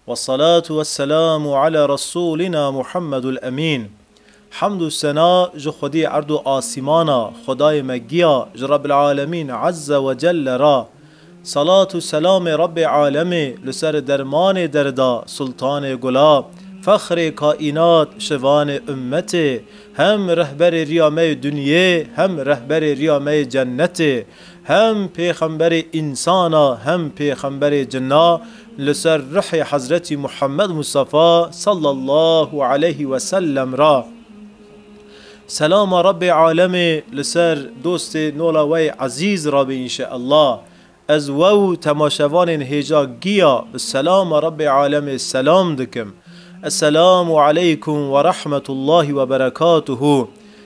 Wessalatu wesselamu ala Resûlina Muhammedul Emîn. Hemd û sena ji Xwedî erd û asîmana, Xwedayê me giya ji Rebbil Alemîn Ezze we Celle re. Salat û selamê Rebbê Alemê li ser dermanê derda, sultanê gula, fexrê kaînat, şivanê ummetê, hem rehberê riya me yê dunyê, hem rehberê riya me yê cennetê, Hem pêxemberê însan a hem pêxemberê cin a li ser ruhê Hezretî Muhammed Mustafa sallallahu aleyh ve sellem re selama Rebê alemê li ser dostê nola wey ezîz re be înşeellah ez we û temaşevanên hêja giya bi selama Rebê alemê selam dikim Esselamu aleykum werahmetullahî weberekatuhu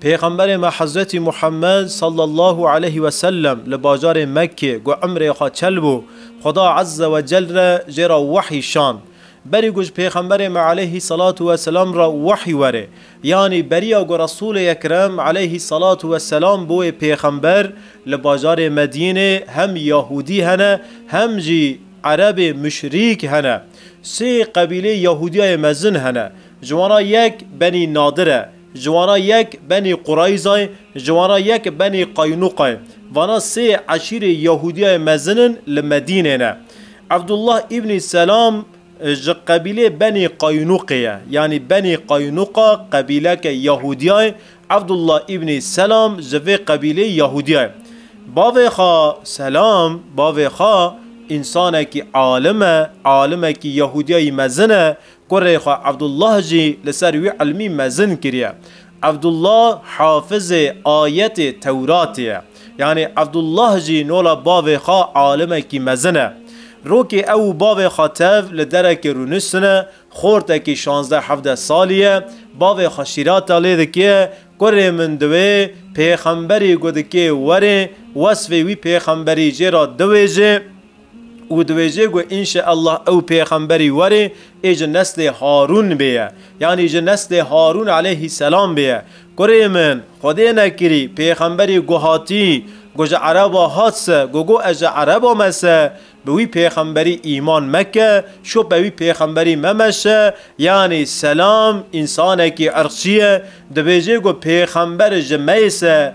Pêxemberê me Hezretî Muhammed sallallahu aleyh ve sellem li bajarê Mekkê ku emrê xwe çel bû, Xuda ezze ve cel re jê re wehî şand. Berî ku ji Pêxemberê me aleyhî selatu ve selam re wehî were, yanî beriya ku Resûlê Ekrem aleyhî selatu ve selam bi wê pêxember li bajarê Medînê hem Yahûdî hene hem jî Erebê muşrîk hene. Sê qebîleyê Yahûdiyayê mezin hene. Ji wan re yek benî Nadir e, ji wan re yek benî Qureyza ye, ji wan re yek benî Qaynuqa ye. Vana sê eşîrê Yahûdiyayê mezin in li Medînê ne. Evdullah îbnî Selam ji qebîlê benî Qaynuqê ye. Yanî benî Qaynuqa qebîleke Yahûdiya ye, Evdullah îbnî Selam ji vê qebîlê Yahûdiya ye. Bavê xwe Selam, bavê xwe însanekî alim e, alimekî Yahûdiyayî mezin e, Kurê xwe Evdullah jî li ser wî ilmî mezin kiriye. Evdullah hafizê ayetê Tewratê ye. Yanî Evdullah jî nola bavê xwe alimekî mezin e. Rokê ew û bavê xwe tev li derekê rûniştine, xortekî şazdeh hevdeh salî ye, bavê xwe şîrata lê dike, Kurê min diwê pêxemberî ku dikê were, wesfê wî pêxemberî jê re diwêje. û dibêje ku înşeellah ew pêxemberî warê ê ji neslê Harûn bê ye, yanî ji neslê Harûn aleyhîsselam bê ye. Kurê min, Xwedê nekirî, pêxemberî ku hatî, ku ji ereba hat se, ku got ez ji ereba me se, bi wî pêxemberî îman meke, şop be wî pêxemberî me meşe, yanî selam, însanekî irqçî ye, dibêje ku pêxember ji me yê se,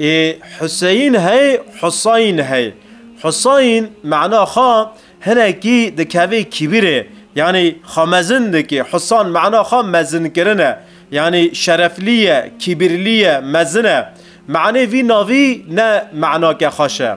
Ê Huseyîn hey, Husayin hey. Husayin mana xwe hinekî dikeve kîbîrê, yanî xwe mezin dike. Husan mana xwe mezinkirin e. Yanî şereflî ye, kîbîrlî ye, mezin e. Manê vî navî ne manake xweş e.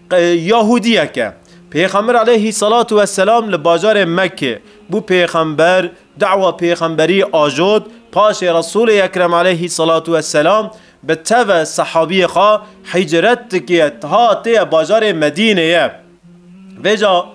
Yahûdiyeke, Pêxember aleyhî selatu weselam li bajarê Mekkê bû pêxember, dawa pêxemberî ajot, paşê Resûlê Ekrem aleyhî selatu weselam bi teve sehabiyê xwe hicret dikiye hatiye bajarê Medîneyê. Vêca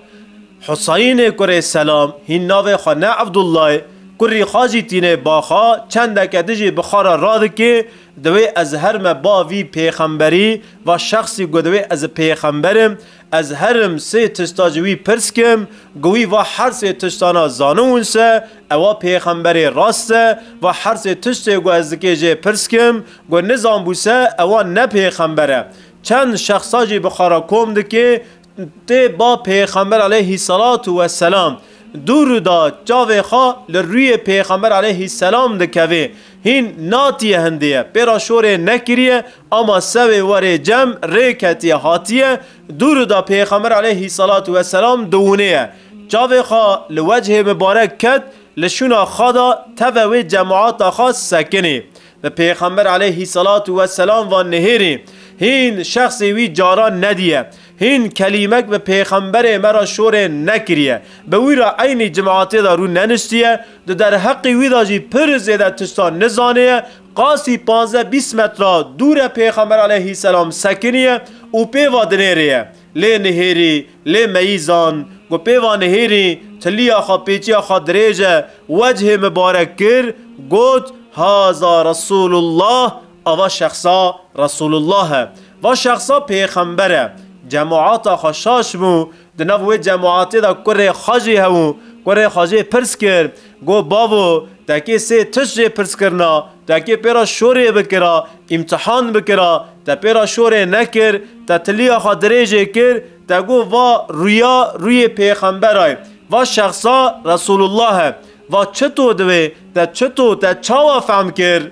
Huseyinê kurê Selam hîn navê xwe ne Evdullayê kurî xwe jî tînê ba xwe, çendeke dijî bi xwe re radikê, Divê ez her me ba vî pêxemberî va şexsî ku divê ez pêxember im, ez her im sê tişta ji wî pirs kim, ku wî va her sê tiştana zaniwin se, ewa pêxemberê rast e, va her sê tiştê ku ez dikê jê pirs kim, ku nizanbû se, ewa ne pêxember e. Çend şexsa jî bi xwe re kom dikê, Tê ba Pêxember aleyhîsselatu wesselam dû rûda çavê xwe li rûyê Pêxember aleyhîsselam dikevê hîn natiye hindiye pê ra şorê nekiriye ama sewê werê cem rê ketiye hatiye dû rûda Pêxember aleyhîsselatu wesselam diwûnêye çavê xwe li wechê mibarek ket li şûna xwe da teve wê cemaata xwe sekinê Bi Pêxember aleyhî selatu we selam ve nêhêrê hîn şexsê wî caran nedîye, hîn kelîmek bi Pêxemberê me re şorê nekirîye, bi wî re eynî cimatê de rû neniştîye, di derheqê wî de jî pir zêde tiştan nizanêye, qasî panzdeh bîst metra dûre Pêxember aleyhî selam sekinîye û pê ve dinêrêye. Lê nihêrî, lê meyî zan ku pêva nihêrî tiliya xwe pêçiya xwe dirêje wecihê min barek kir, got, Haza Resûlullah, ava şexsa Resûlullah e. Va şexsa pêxember e. Cemûata xwe şaş bû. Di nav wê cemûatê de kurê xwe jî hebû. Kurê xwe jê pirs kir. Got, Bavo, tekê sê tişt jê pirs kirina, tekê pê re şorê bikira, îmtihan bikira, te pê re şorê nekir, te tiliya xwe dirêjê kir, te got, Va rûya rûyê pêxembera ye, va şexsa Resûlullah e. Va çito divê, te çito, te çawa fehm kir?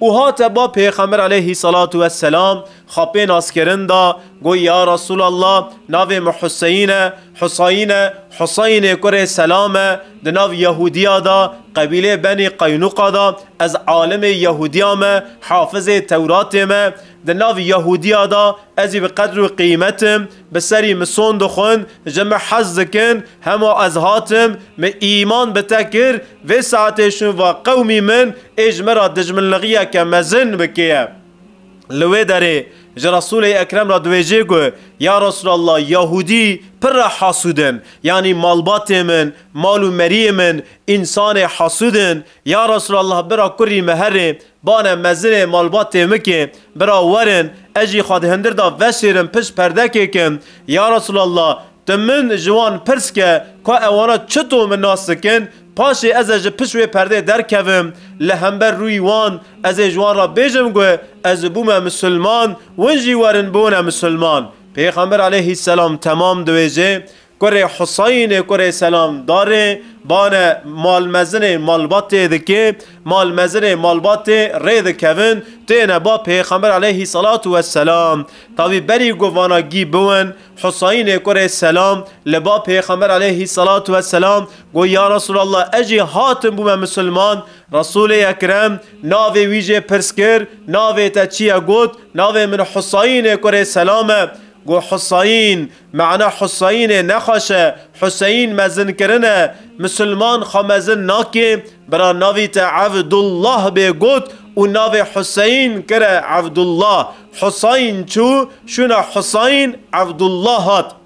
Û hate ba Pêxember aleyhî selatu we selam xapê naskirin da, got, Ya Resûlallah, navê min Huseyîn e, Husayîn e, Huseyînê kurê Selam e, di nav Yehûdiya da, qebîlê Benî Qeynuqa da, ez alimê Yehûdiya me, hafizê Tewratê me, di nav Yehûdiya da, ez î bi qedr û qîmet im, Bi serî min son dixwin, ji min hez dikin, hema ez hatim, min îman bi te kir, vê saetê şûn va qewmî min ê ji min re dijminlixiyeke mezin bikiye. Li wê derê ji Resûlê Ekrem re diwêjê ku, Ya Resûlallah, Yahûdî pir re hasûd in, yanî malbatê min, mal û meriyê min, însanê hasûd in, ya Resûlallah bira kurî min herê Bane mezirê malbat têmikê, bira werin, ez jî xwe di hindir de veşêrim pişt perdekê ke, Ya Resûlallah, tu min ji wan pirs ke, ka ewana çito min nas dikin, paşê ez e ji pişt wê perdê derkevim, li hember rûyî wan, ez ê ji wan re bêjim ku, ez bûme misilman, win jî werin bûne misilman. Pêxember aleyhîsselam temam diwêjê, Kurê Huseyinê kurê Selamdarê bane malmezinê malbatê dike, malmezinê malbatê rê dikevin, têne ba Pêxember aleyhî selatu we selam. Tavî berî ku vana gî biwin, Huseyinê kurê Selam li ba Pêxember aleyhî selatu we selam got, Ya Resûlallah ez jî hatim bûme misilman. Resûlê Ekrem navê wî jê pirs kir, Navê te çi ye? Got, Navê min Huseyinê kurê Selam e. Got, Huseyin! Mana Huseyinê nexweş e, Huseyin mezinkirin e, misilman xwe mezin nake, bira navî te Evdullah bê got û navê Huseyin kire Evdullah. Huseyin çû, şûna Huseyin, Evdullah hat.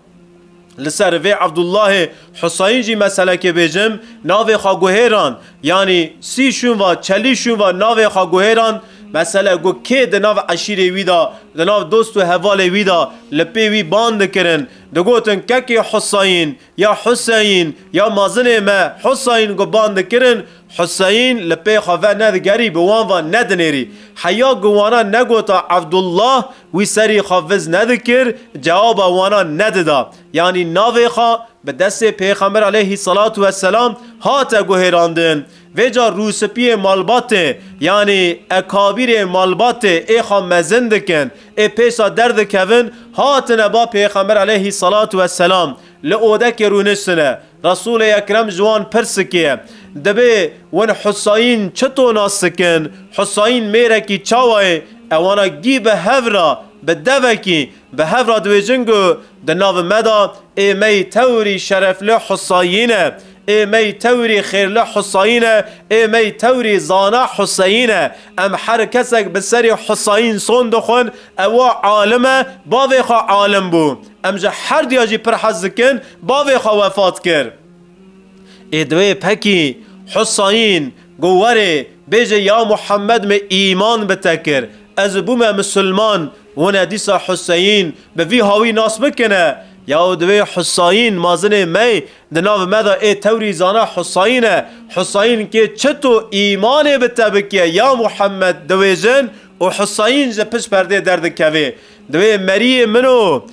Li ser vê Evdullahê Huseyin jî me selekê bêjim, navê xwe guhêrand. Yanî sî şûnva, çelî şûnva navê xwe guhêran, mesele ku kê di nav eşîrê wî de, di nav dost û hevalê wî de li pê wî bang dikirin, digotin kekê Husayîn ya Huseyîn ya mazinê me Husayîn ku bang dikirin, Huseyîn li pê xwe ve nedigerî, bi wan ve nedinêrî. Heya ku wana negota Evdullah wî serî xwe viz nedikir, cewaba wana nedida. Yanî navê xwe bi destê Pêxember aleyhî selatû we selam hate guhêrandin. Vê car rûspiyê malbatê yanî ekabîrê malbatê ê xwe mezin dikin ê pêsa derdikevin hatine ba Pêxember aleyhî selatû we selam li odekê rûniştine. Resûlê Ekrem ji wan pirsikiye, Dibê win Husayîn çito nas dikin? Husayîn mêrekî çawa yê? Ewana gî bi hev ra bi devekî Bi hev re diwêjin ku di nav me de êmeyî tewrî şerefli Husayîn e, êmeyî tewrî xêrli Husayîn e, êmeyî tewrî zana Huseyîn e. Em her kesek bi serî Husayîn son dixwin, ewa alim e, bavê xwe alim bû. Em ji her diya jî pir hez dikin, bavê xwe wefat kir. Ê di wê pekî Husayîn got werê bêje ya Muhammed min îman bi te kir, ez bûme misilman, Hûne dîsa Huseyîn bi vî hawî nas bikine, Yaw divê Husayîn mazinê mey di nav me de ê tewrî zana Husayîn e. Husayîn kê çi to îmanê bi te bike ya Muhemmed diwêjin û Husayîn ji pişt perdê derdikevê. Divê meriyê min o,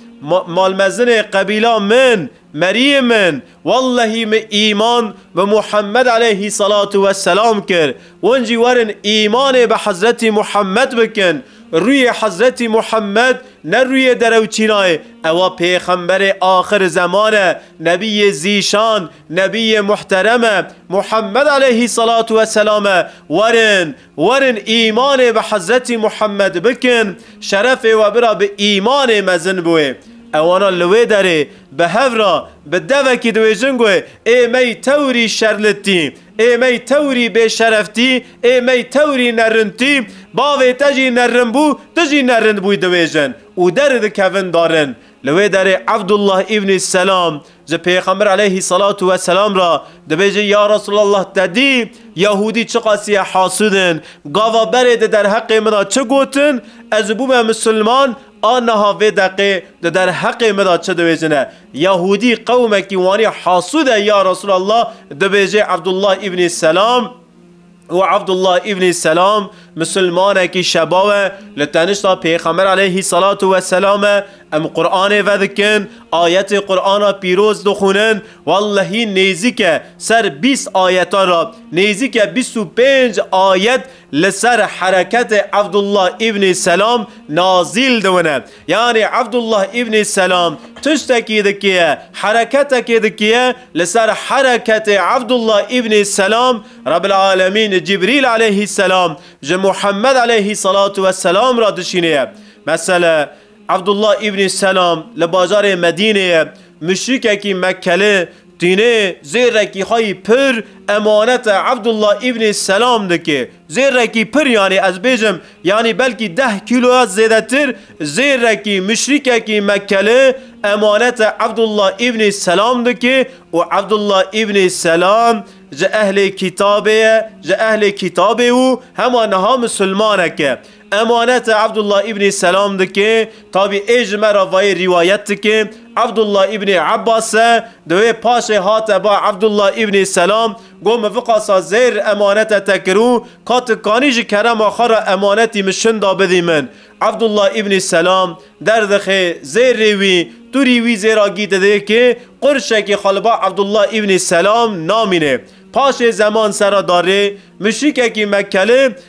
malmezinê qebîla min, meriyê min, Wellehî min îman bi Muhammed eleyhî selatu we selam kir. Hûn jî werin îmanê bi Hezretî Muhammed bikin. Rûyê Hezretî Muhammed ne rûyê derewçîna ye, ewa pêxemberê axir zeman e, nebîyê zîşan, nebîyê muhterem e. Muhammed eleyhî selatu we selam e. Werin Werin îmanê bi Hezretî Muhammed bikin, şerefê we bira bi îmanê mezin bûê. Ewana li wê derê bi hev re bi devekî diwêjin ku ê mey tewrî şerlitî, ê mey tewrî bêşereftî, ê mey tewrî nerintî, bavê te jî nerin bû, tu jî nerin bûy diwêjin û derdikevin darin. Li wê derê Evdullah îbnî Selam ji Pêxember eleyhî selatu we selam re dibêje, Ya Resûlallah te dî Yahûdî çiqasîye hasûd in, gava berê di derheqê min de çi gotin, ez û bûme misilman a niha vê deqê di derheqê min de çi dibêjine. Yahûdî qewimekî wanî hasûd e ya Resûlallah dibêje Evdullah îbnî Selam. û Abdullah îbnî Selam misilmanekî şebaw e, li tenişta Pêxember aleyhî selatu weselam e, em Quranê vedikin, ayetê Qurana pîroz dixwînin, wellehî nêzîke ser bîst ayetan re, nêzîke bîst û pênc ayet li ser hereketê Abdullah îbnî Selam nazîl dibine. Yanî Evdullah Îbnî Selam tiştekî dikiye, hereketekê dikiye, li ser hereketê Evdullah Îbnî Selam Rebbil Alemîn Cîbrîl Eleyhî Selam ji Muhemmed Eleyhî Selatu Ve Selam re dişînê ye. Mesele, Evdullah Îbnî Selam li bajarê Medînê ye, muşrîkekî Mekkeli, Tînê zêrekî xwe yî pir emanete Evdullah Îbnî Selam dike. Zêrekî pir yanî ez bêjim yanî belkî deh kîlo ya zêdetir zêrekî muşrîkekî Mekkeli emanete Evdullah Îbnî Selam dike û Evdullah Îbnî Selam ji ehlê kîtabê ye, ji ehlê kîtabê û hema niha misilmanek e. Emanete Abdullah Îbnî Selam dike, tabî ê ji me re vayê rîwayet dike, Abdullah Îbnî Ebas e, di wê paşê hate ba Abdullah Îbnî Selam, got min viqasa zêr emanete te kir û ka tu kanî ji kerema xwe re emanetî min şinda bidî min. Abdullah Îbnî Selam derdixe, zêr rê wî, tu rî wî zêra gî didê ki qurşekî xwe li ba Abdullah Îbnî Selam namîne. Paşê zeman sera darê, muşrîkekî Mekkeli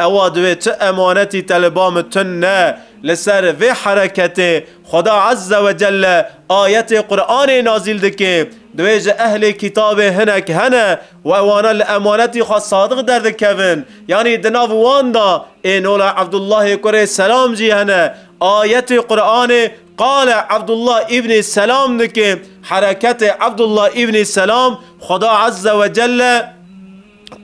Ewa divê tu emanetî te li ba min tund ne. Li ser vê hereketê Xweda Ezze we Celle ayetê Quranê nazîl dike. Divê ji ehlê kîtabê hinek hene û ewana li emanetî xwe sadiq derdikevin. Yanî di nav wan de ê nola Ebdullahê kurê Selam jî hene. Ayetê Quranê qala Ebdullah îbnî Selam dike. Hereketê Ebdullah îbnî Selam Xweda Ezze we Celle.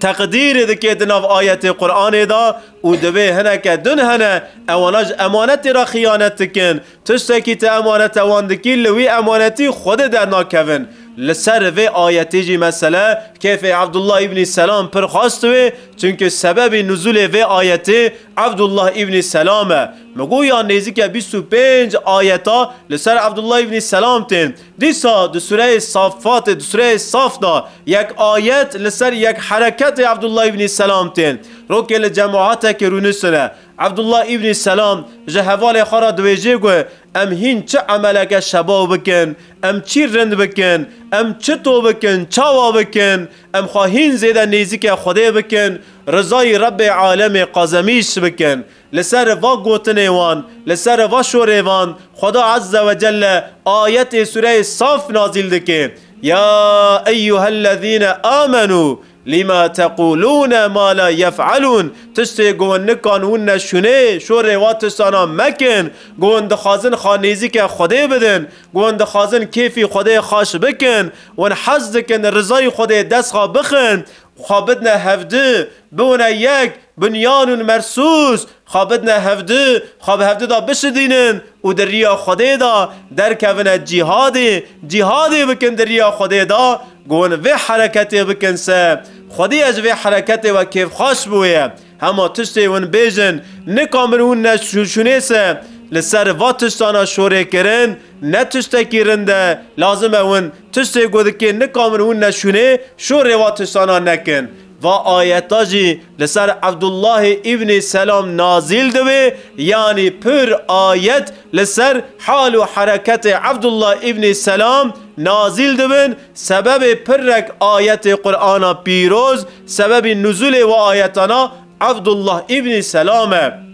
teqdîrê dike di nav ayetê Quranê de û divê hineke din hene ewana ji emanetê re xiyanet dikin. Tiştekî tu emanete wan dikî li wî emanetî Xwedê dernakevin. Li ser vê ayetê jî mesele kêfê Evdullah Îbnî Selam pir xas diwê çimkî sebebî nuzûlê vê ayetê Evdullah Îbnî Selam e. Min got ya nêzîke bîst û pênc ayeta li ser Evdullah Îbnî Selam tên. Dîsa di sureyê Saffatê, di sureyê Saf de yek ayet li ser yek hereketê Abdullah Îbnî Selam tên. Rokê li cemaetekê rûnusine. Abdullah Îbnî Selam ji hevalê xwe re diwêjê ku em hîn çi emeleke şebaw bikin, em çî rind bikin, em çito bikin, çawa bikin, em xwe hîn zêde nêzîkê Xwedê bikin, rizayî Rebbê Alemê qazemîş bikin. Li ser va gotinê wan, li ser va şorê van Xweda Ezze ve Celle ayetê Sûreyê Saf nazîl dike, Ya eyyuhellezîne âmenû lîma teqûlûne ma la yef'elûn, Tiştê ku wan nikan û ne şûnê, şorê va tiştanan mekin, ku wan dixwazin xwe nêzîke Xwedê bidin, ku wan dixwazin kêfî Xwedê xweş bikin, wan hez dikin rizayê Xwedê dest xwe bixin Xwe bidne hevdu, biwine yek, binyan ûn mersûs, xwe bidne hevdu, xwe bi hevdu da bişidînin û di riya Xwedê da derkevine cîhadê, cîhadê bikin di riya Xwedê da ku hûn vê hereketê bikin se. Xwedî ye ji vê hereketê we kêfxweş bûye. Hema tiştê hûn bêjin nika min hûn ne şûnês e. Li ser va tiştana şorê kirin ne tiştekî rind e. Lazim e hûn tiştê ku dikê nika min hûn ne şûnê şorê va tiştana nekin. Va ayeta jî li ser Ebdullahê Îbnî Selam nazîl dibe yanî pir ayet li ser hal û hereketê Ebdullah Îbnî Selam nazîl dibin sebebê pirrek ayetê Qur'ana pîroz Sebebî nuzulê wi ayetana Abdullah îbnî Selam e.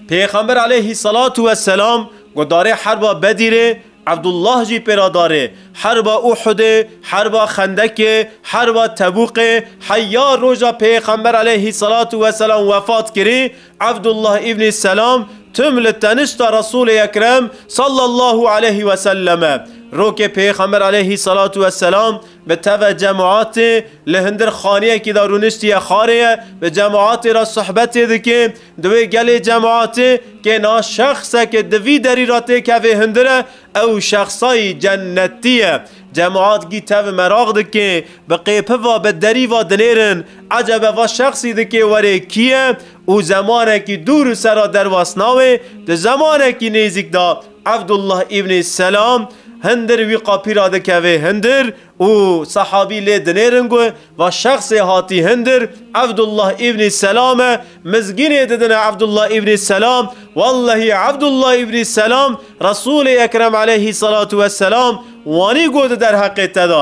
Pêxember aleyhî selatu we selam guhdarê herba Bedîrê, Abdullah jî pêra darê herba Uhudê, herba Xendekê, herba Tebûqê, heya roja Pêxember aleyhî selatu we selam wefat kirî, Abdullah îbnî Selam tim li tenişta Resûlê Ekrem sallallahu aleyhî we sellem e. Rokê Pêxember aleyhî selatu we selam Bi teveh cemaetê li hundir xaneyekî de rûniştiye xarê ye, bi cemaetê re sohbetê dike. Di wê gelê cemaetê kê na şexseke di vî derî re tê kevê hundir e, ew şexsayî cennetî ye. Cemaet gî tevih meraq dike, bi qêpi va bi derî va dinêrin, ecebe va şexsî dike were kî ye û zemanekî dûr û sera derwas nawe di zemanekî nêzîk de Abdullah Îbnî Selam hindir wî qapî ra dikeve hindir û sehabî lê dinêrin gu, Va şexsê hatî hindir, Abdullah Îbnî Selam e. Mizgînê didine Abdullah Îbnî Selam, Wellehî Abdullah Îbnî Selam Resûlê Ekrem Eleyhî Selatu Wesselam wanî gu di derheqê te de,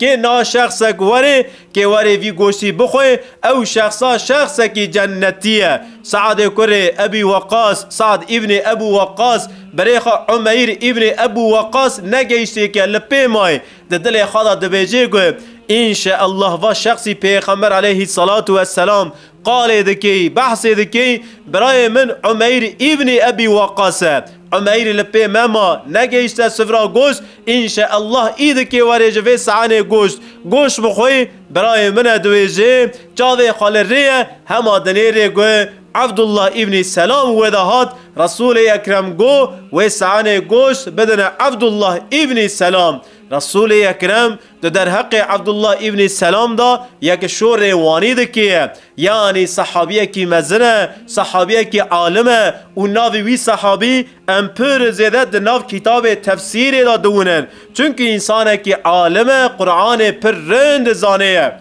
Kê na şexsek were, kê were vî goştî bixwe, ew şexsa şexsekî cennetî ye. Seadê kurê Ebî Weqas, Sead îbnê Ebû Weqas, berê xwe Umeyr îbnê Ebû Weqas ne gehîştê ke li pê mayê, di dilê xwe de dibêjê ku, Înşeellah va şexsî Pêxember aleyhîsselatu wesselam Qalê dikî, behsê dikî, birayê min Umeyr îbnî Ebî Weqqas e. Umeyr li pê me ma, negihîşte sifra goşt, înşeellah îdikê werê ji vê saenê goşt, goşt bixwî, birayê min e diwêjê, çavê xwe li rê ye, hema dinê rê gu, Ebdullah îbnî Selam wê de hat, Resûlê Ekrem gu, wê saenê goşt bidine Ebdullah îbnî Selam. Resûlê Ekrem. Di derheqê Ebdullah îbnî Selam de yek şorê wanî dikê. Yanî sehabiyekî mezin e, sehabiyekî alim e û navê wî sehabî em pir zêde di nav kitabê tefsîrê de diwinin. Çimkî însanekî alim e, Quranê pir rind dizanê.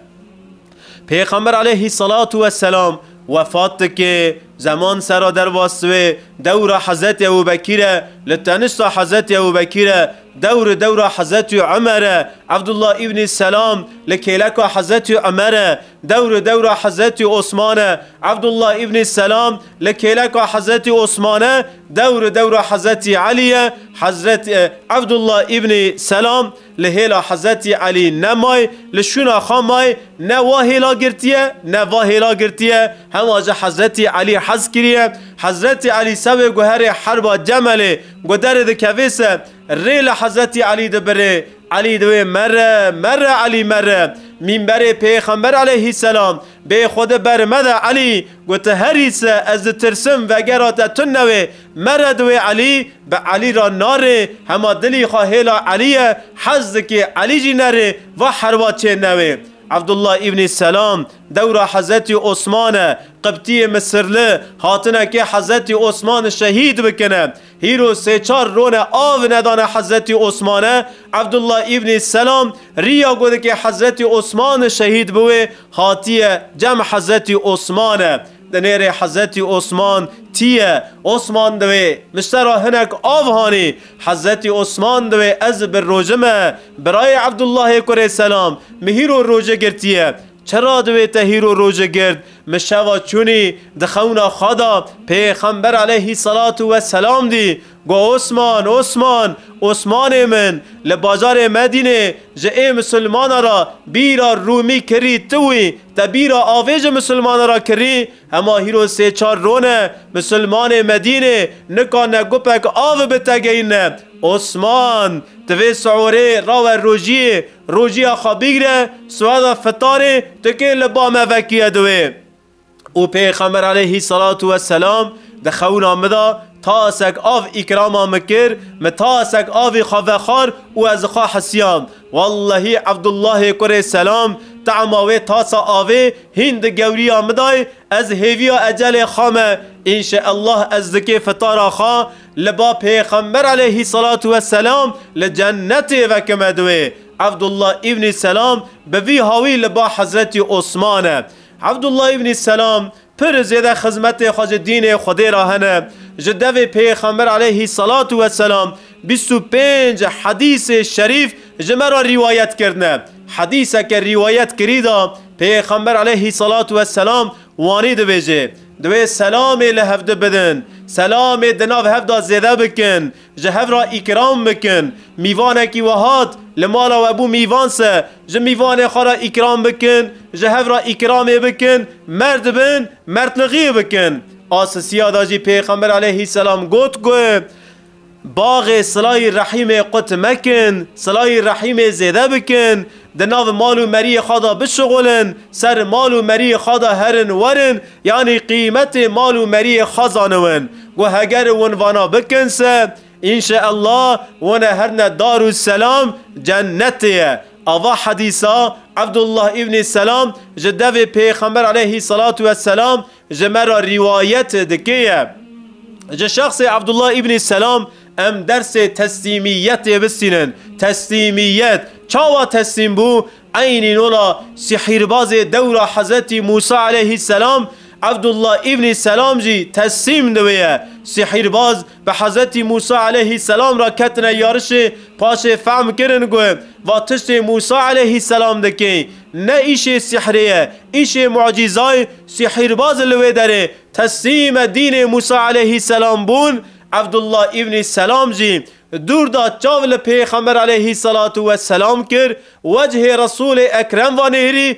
Pêxember aleyhî selatu we selam wefat dike, zeman sera derva siwê dewra Hezretî Ewubekîr e, li tenişta Hezretî Ewubekîr e, dewri dewra Hezretî Umer e, Ebdullah îbnî Selam li kêleka Hezretî Umer e, dewri dewra Hezretî Osman e, Ebdullah îbnî Selam li kêleka Hezretî Osman e, dewri dewra Hezretî Elî ye, Hezret Ebdullah îbnî Selam, Li hêla Hezretî Elî ne may li şûna xwe may ne wa hêla girtiye ne va hêla girtiye, hema jî Hezretî Elî hez kiriye. Hezretî Elî sewê guherê herba Cemelê guderê dikevê se, rê li Hezretî Elî dibirê, Elî di wê mere, mere Elî mere. Mîmberê Pêxember Eleyhîsselam, bê xwe di ber mede Elî, got, Herî se ez ditirsim vegera te tune wê, Mere di wê Elî bi Elî re narê, hema dilî xwe hêla Elî ye, hez dikê Elî jî nerê, va herwa çê newê. Evdullah Îbnî Selam, dewra Hezetî Osman e, Qibtîyê Misirli, hatine kê Hezetî Osman şehîd bikine. Hîro sê çar rone av nedane Hezetî Osmane, Evdullah Îbnî Selam, rîya ku dikê Hezetî Osman şehîd biwê, hatîye cem Hezetî Osmane. Di nêrê Hezretî Osman tî ye. Osman diwê min ji te re hinek av hanî. Hezretî Osman diwê ez bi roje me. Birayê Evdullahê kurê Selam min hîro roje girtiye. Çira diwê te hîro roje girt? Min şeva çûnî di xewna xwe de pêxember aleyhî selatû weselam dî. Got, Osman, Osman, Osmanê min, li bajarê Medînê ji ê misilmana ra bîra Rûmî kirî tu wî, te bîra avê ji misilmana ra kirî? Hema hîro sê çar rone, misilmanê Medînê nika ne gupek avi bi te geyîne. Osman, tu vê siorê rawe rojiyê, rojiya xwe bigre, siweda fitarê tu kê li ba me vekîye di wê? Û Pêxember aleyhî selatû we selam di xewina min de tasek av îkrama min kir, min tasek avê xwe vexwar û ez li xwe hisiyam, wellehî Evdullahê kurê selam tema wê tasa avê hîn di gewriya min dayê, ez hêviya ecelê xwe me, înşeellah ez di kê fitara xwe li ba Pêxember aleyhî selatû we selam li cennetê vekime di wê. Evdullah îbnî selam bi vî hawî li ba Hezretî Osmane. Evdullah Îbnî Selam pir zêde xizmetê xwe ji dînê Xwedê re hene. Ji devê Pêxember aleyhî selatû we selam bîst û pênc hedîsê şerîf ji me re rîwayet kirine. Hedîseke rîwayet kirî de Pêxember aleyhî selatû we selam wanî dibêje, Divê selamê li hevdi bidin, selamê di nav hev de zêde bikin, Ji hev re îkram bikin. Mîvanekî we hat, li mala we bû mîvan se. Ji mîvanê xwe re îkram bikin, ji hev re îkramê bikin, merd bin, merdlixiyê bikin. A sisiya de jî Pêxember aleyhî selam got ku, Baxê silayî rehîmê qut mekin, silayî rehîmê zêde bikin. Di nav mal û meriyê xwe de bişixulin, ser mal û meriyê xwe de herin werin yanî qîmetê mal û meriyê xwe zaniwin ku heger win vana bikin se înşeellah wan e her ne dar û selam cennetê ye. Ava hedîsa Ebdullah îbnî Selam ji devê Pêxember aleyhî selatû wesselam Ji me re rîwayet dikeye. Ji şexsê Abdullah Îbnî Selam em dersê teslîmîyetê bistînin. Teslîmîyet, çawa teslîm bû? Eynî nola sîhîrbazê dewra Hezretî Mûsa Eleyhî Selam, Abdullah Îbnî Selam jî teslîm di wê ye. Sîhîrbaz, Bi Hezretî Mûsa eleyhîsselam re ketine yarişê, paşê fehm kirin ku va tiştê Mûsa eleyhîsselam dike ne îşê sîhrê ye, îşê mucîza ye, sîhîrbaz li wê derê teslîme dînê Mûsa eleyhîsselam bûn, Evdullah îbnî Selam jî dûr da çav li Pêxember eleyhîsselatu weselam kir, wecihê Resûlê Ekrem va nêrî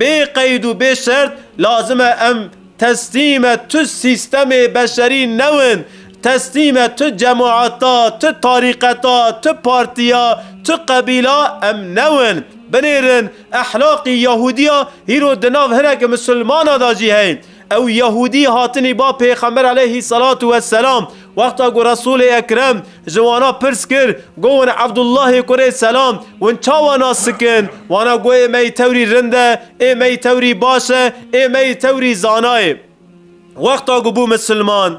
Bê qeyd û bê şert lazim e em teslîme tu sîstemê beşerî newin, teslîme tu cemaeta, tu tarîqeta, tu partiya, tu qebîla em newin. Binêrin, ehlaqî Yahûdiya hîro di nav hineke misilmana de jî heye. Ew Yahûdî hatinî ba Pêxember aleyhî selatu we selam. Wexta ku Resûlê Ekrem ji wana pirs kir, Go win Evdullahê kurê selam, win çawa nas dikin? Wana go ê me yî tewrî rind e, ê me yî tewrî baş e, ê me yî tewrî zana ye. Wexta ku bû misilman,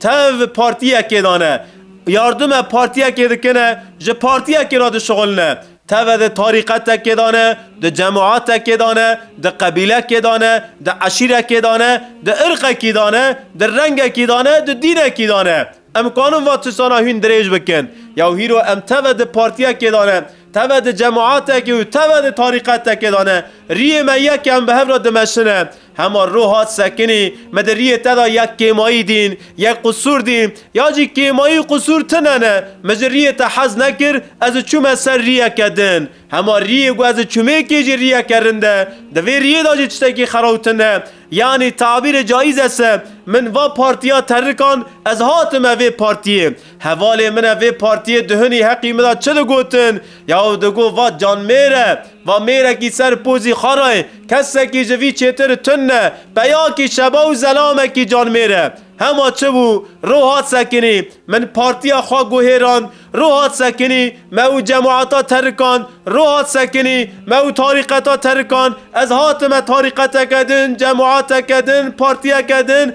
Tev partiyekê dane. Yardume partiyekê dikine, ji partiyekê re dişixulne. Teve di tarîqetekê dane, di cemaetekê dane, di qebîlekê dane, di eşîrekê dane, di irqekî dane, di rengekî dane, di dînekî dane. Em kanin va tisana hûn dirêj bikin. Ya hîro em teve di partiyekê dane, teve di cemaetekê û teve di tarîqetekê dane. Riyê me yek e em bi hev re dimeşine. Hema ro hat sekinî, me di riyê te de yek kêmayî dîn, yek qusûr dî, ya jî kêmayî û qusûr tune ne. Min ji riyê te hez nekir, ez çûme ser riyeke din. Hema riyê ku ez çûmêkê jî riyeke rind e, di vê riyê de jî tiştekî xerawtin e. Yanî tabîrê caîz e se, min va partiya terrikan, ez hatime vê partiyê. Hevalê min e vê partiyê duhinî heqî min da çi digotin ya û digot va can mêr e, va mêrekî ser pozî xara ye, kesekî ji vî çêtir tund ne, peyakî şeba û zelamekî can mêr e. Hema çi bû, rû hat sekinî, min partiya xwe guhêrand, rû hat sekinî, me û cemata terikand, rû hat sekinî, me û tarîqeta terikand, ez hatime tarîqeteke din, cemateke din, partiyeke din,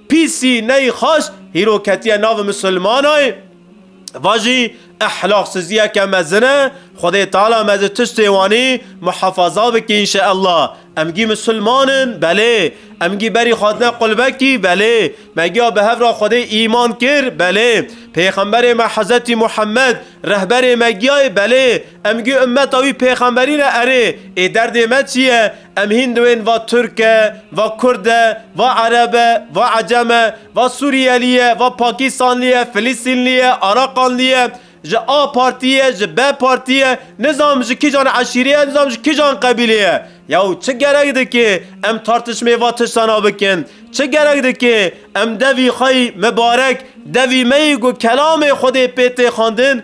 Pîsî neyî xweş hîro ketiye nav misilmanayî, va jî ehlaxsiziyeke mezin e, Xwedê Teala me ji tiştê wanî muhefaza bike înşeellah. Em gî misilman in? Belê. Em gî berî xwazine qulbekî? Belê. Me giya bi hev ra Xwedê îman kir? Belê. Pêxemberê me Hezretî Muhemmed rehberê me giyaye? Belê. Em gi ummeta wî pêxemberî re erê, ê derdê me çi ye? Em hîn diwên va Tirk e, va Kurd e, va Ereb e, va Ecem e, va Sûriyelî ye, va Pakîstanlî ye, Filîstînlî ye, Araqanlî ye, ji A Partî ye, ji B Partî ye, nizanim ji kîjan eşîrê ye, nizanim ji kîjan qebîlê ye. Yaw çi gerek dike em tartişmê va tiştan a bikin? Çi gerek dike em devî xwe yî mibarek, devî me yî ku kelamê Xwedê pê tê xwendin,